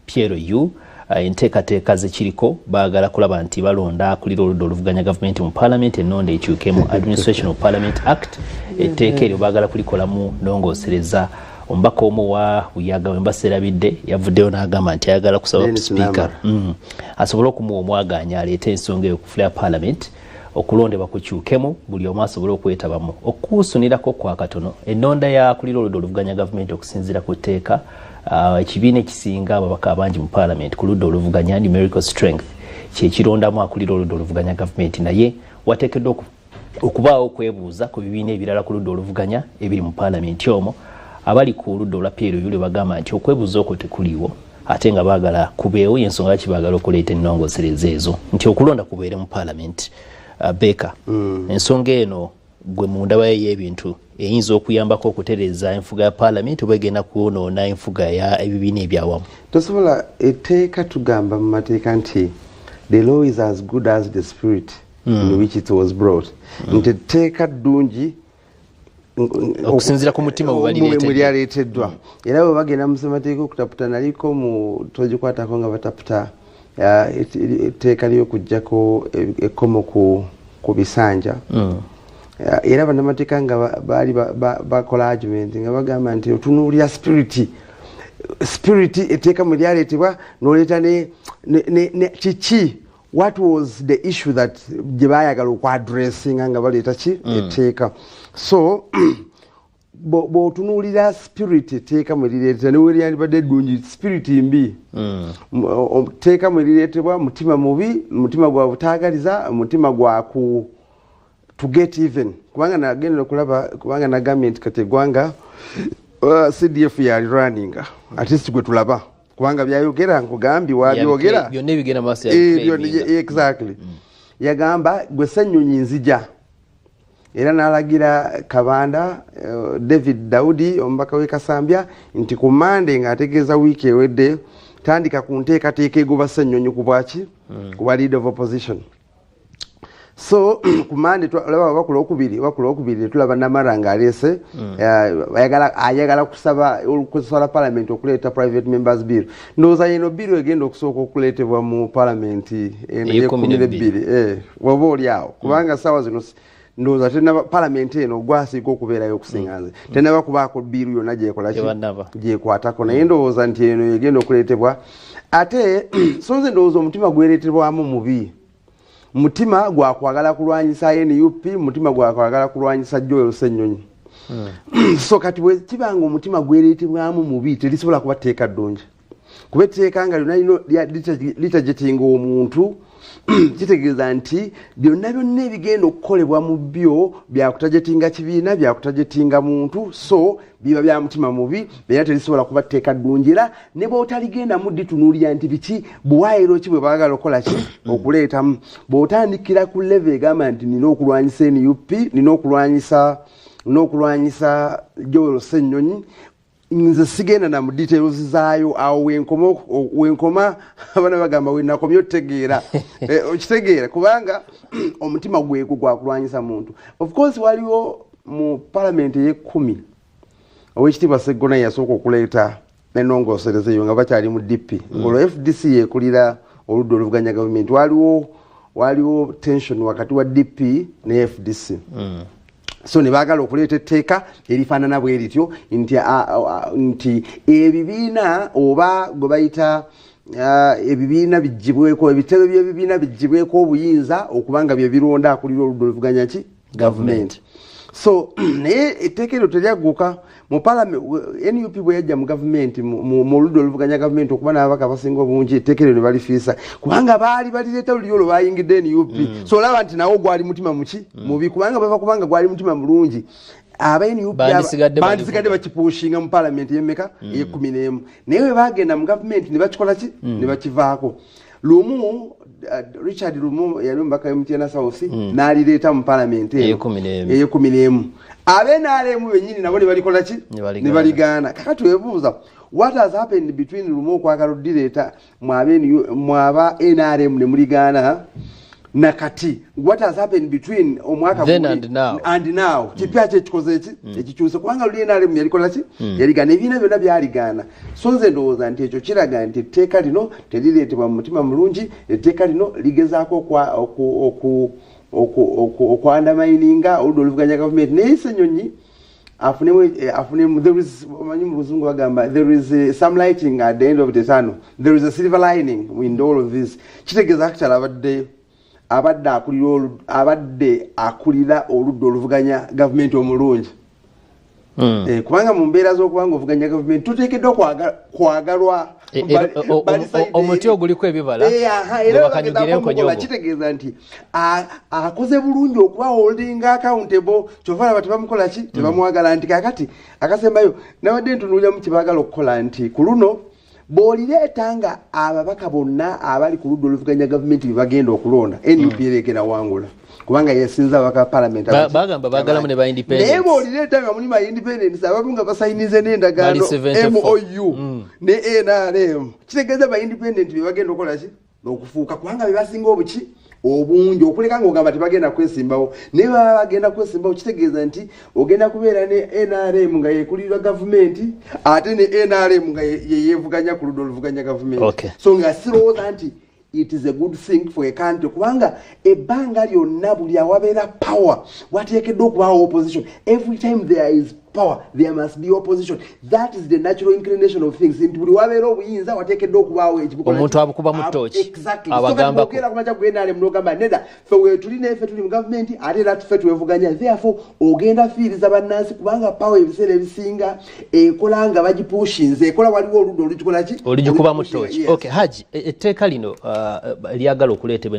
Pierre Yu eh, enteekateeka zekiriko baagala kulaba nti balonda akulira oludda oluvuganya gavumenti mu palamenti ennonda ekyukemu administration of parliament act etteeka eryo baagala kulikolamu nongosereza omubaka omu wa buyaga wembaserabidde yavuddeyo n'agamba nti ayagala kusaba sipiika mm. asobole okumuwa omwagaanya aleete ensonga eyo ku fula ya palamenti okulondebwa kukyukemu buli omu asobole okwetabamu okukuusunirako kwa katono ennonda yakulira oludda oluvuganya gavumenti okusinziira ku tteeka ah, ekibiina ekisinga ababaka abangi mu paalamenti ku ludda oluvuganya numerical strength kyekirondamu akulira oludda oluvuganya gavumenti naye wateekeddwa okubaawo okwebuuza ku bibiina ebirala ku ludda oluvuganya ebiri mu paalamenti omwo abali ku ludda olwa pierre yule bagamba nti okwebuuza okwo tekuliiwo ate nga baagala kubeewo yensonga lwaki baagala okuleeta ennongosereza ezo nti okulonda kubeere mu paalamenti uh, beeka mm. ensonga eno gwe mu ndabayo y'ebintu eyinza okuyambako okutereeza enfuga ya paalamenti oba egenda kwonoona enfuga ya ebibiina ebyawamu tosobola etteeka tugamba mu mateeka nti the law is as good as the spirit mm. in which it was brought mm. nti etteeka ddungi okusinzira ku mutima wemuli aleeteddwa era bwe bagenda mu ssemateeka okutaputa naliko mu togikwatako nga bataputa etteeka ly'okugjako ekkomo ku bisanja hmm. era banamateeka nga baali bakola argument nga bagamba nti otunuulira spiriti spiriti eteeka mu lyaleetebwa noleeta ne kiki what was the issue that gye baayagala okwadressinga nga baleeta ki mm. etteeka so bwotunuulira spirit etteeka mwe lireetera ne weryandibadde eddungi spirit mbi mm. tteeka mwe lireetebwa mutima mubi mutima gwa butaagaliza mutima gwa ku to get even kubanga nagendera okulaba kubanga nagambye nti kati eggwanga uh, cdf yali runninga at least gwe tulaba kubanga byayogera nkugambye wabyogera byonna ebigenda maaso eh, exactly mm. yagamba gwe senyonyi nzija era n'alagira kabanda eh, david daudi omubaka w'e kasambya nti ku mande ng'ategeeza wiiki ewedde tandika ku nteekateeka egoba senyonyi ku bwaki mm. ku bwa lead of opposition mm. so kumande olaba oba ku lwokubiri oba ku lwokubiri netulaba namara nga aleese mm. eh, ayagala kusaba kusala palamenti okuleeta private members bill ndowooza yeno biru egenda okusooka okuleetebwa mu palamenti eno yekumi nebbiri eh, oba oli awo mm. kubanga saawa zino ndowooza tenaba palamenti eno gwasiika okubeerayo okusinga nze mm. tenaba kubaako biiru yonna gyekolaki gyekwatako naye ndowooza nti eno egenda okuleetebwa ate so nze ndowooza omutima gwereetebwamu mubi mutima gwakwagala kulwanyisa nup mutima gwakwagala kulwanyisa joel senyonyi hmm. so kati bwekiba nga omutima gwereetebwamu mubi terisobola kuba tteeka ddungi kuba etteeka nga lyona lino litajetinga omuntu kitegeeza nti byonna byonna ebigenda okukolebwa mu byo byakutajetinga kibiina byakutajetinga muntu so biba bya mutima mubi era terisobola kuba tteeka ddungi era ne bwotaligendamu ditunuulira nti biki buwaayiro ki bwe baagala okukola ki okuleetamu bw'otandikira ku leve egamba nti nina okulwanyisa nup nina okulwanyisa n'okulwanyisa joel ssennyonyi nze sigenda na mudetails zaayo awo wenkoma wenkoma abana bagamba wenakomye otegeera eh, okitegeera kubanga omutima gwegwo gwakulwanyisa muntu of course waliwo mu palamenti eyekumi owekitiibwa seggona yasooka okuleeta nenongosereza eyo nga bakyali mu dp mm. ngolwo fdc yekulira oludda oluvuganya gavumenti waliwo waliwo tension wakati wa dp ne fdc mm. so ne baagala okuleeta etteeka erifaanana bwe rityo nti nti ebibiina oba gwe bayita ebibiina bigibweko ebitebe by'ebibiina bigibweko obuyinza okuba nga bye bironda akulira oludda oluvuganya ki gavumenti so naye etteeka eryo teryagguka mu parliament nup bwe yajja mu gavumenti mu oludda oluvuganya gavumenti okuba n'ababaka abasinga obungi etteeka eryo ne balifiisa kubanga baali balireeta luliyo olwo bayingidde nup mm. so olaba nti nawo gwali mutima muki mm. mubi kubanga bava kubanga gwali mutima mulungi aba nup bandisigadde bakipuushinga mu palamenti yemeka mm. eyekumi n'emu naye bwe bagenda mu gavumenti ne bakikola ki ne bakivaako lumu uh, richard lumu yali omubaka wemutena south mm. nalireeta mu palamenti eyekumi nemu abe nalemu benyini nabo nebalikola ki nebaligaana kaka twebuuza what has happened between lumu okwagala odireeta mwaba nrm nemuligaana nakati what has happened between omwaka then and now and now mm. kipya kye kikoze ki mm. ekikyuse kubanga luli nale mu yalikola ki mm. yaligana ebina byona byaligana so nze ndowooza nti ekyo kiraga nti etteeka lino terireetebwa mu mutima mulungi etteeka lino ligezaako oku oku oku oku oku andamaininga oludda oluvuganya gavumenti naye senyonyi afunemumanyi mu luzungu bagamba there is eh, some lighting at the end of the tunnel there is a silver lining in all of this kitegeeza actual abadde abadde akulira abadde akulira oludda oluvuganya gavumenti omulungi hmm. eh, kubanga mu mbeera z'okuba nga ovuganya gavumenti tuteekeddwa kwagalwa eh, omuti oguliko ebibalaerakitegeeza nti akoze bulungi okuba holding accountable kyova laba tebamukola ki tebamwagala nti kakati akasembayo nabadde ntunuuliramu kyebaagala okukola nti ku luno bwolireeta nga ababaka bonna abali ku ludda oluvuganya gavumenti bebagenda okulonda nup mm. ereegera wangula kubanga yesinza abaka palamenti bagamba bagalamu ne ba independence naye bwolireeta nga muli ba independence abamu nga basayinize n'endagaano mou mm. ne nrm kitegeeza ba independent bebagenda okukola ki nokufuuka kubanga bebasinga obuki obungi okuleka nga ogamba tebagenda kwesimbawo naye baba bagenda kwesimbawo kitegeeza nti ogenda kubeera ne nrm nga yekulirwa gavumenti ate ne nrm nga yeyevuganya ku luda oluvuganya gavumenti okay. so nga sirowooza nti it is a good thing for a country kubanga ebbanga lyonna buli awabeera power wateekeddwa okubaawo opposition every time there is power there must be opposition that is the natural inclination of things nti buli wabeera obuyinza wateekeddwa okubaawo ekiomuntu abukuba mu tooki abagambakogera kumaja gwenale munogamba neda fe wetuli nefe tuli mu gavumenti ate era tufe twevuganya therefore ogenda fiiriza bannansi kubanga power ebiseera ebisinga ekola nga bagipushinze ekola waliwo oludda olugikolaki oligikuba mu tooki okay haji e, etteeka lino uh, lyagala okuleetebwa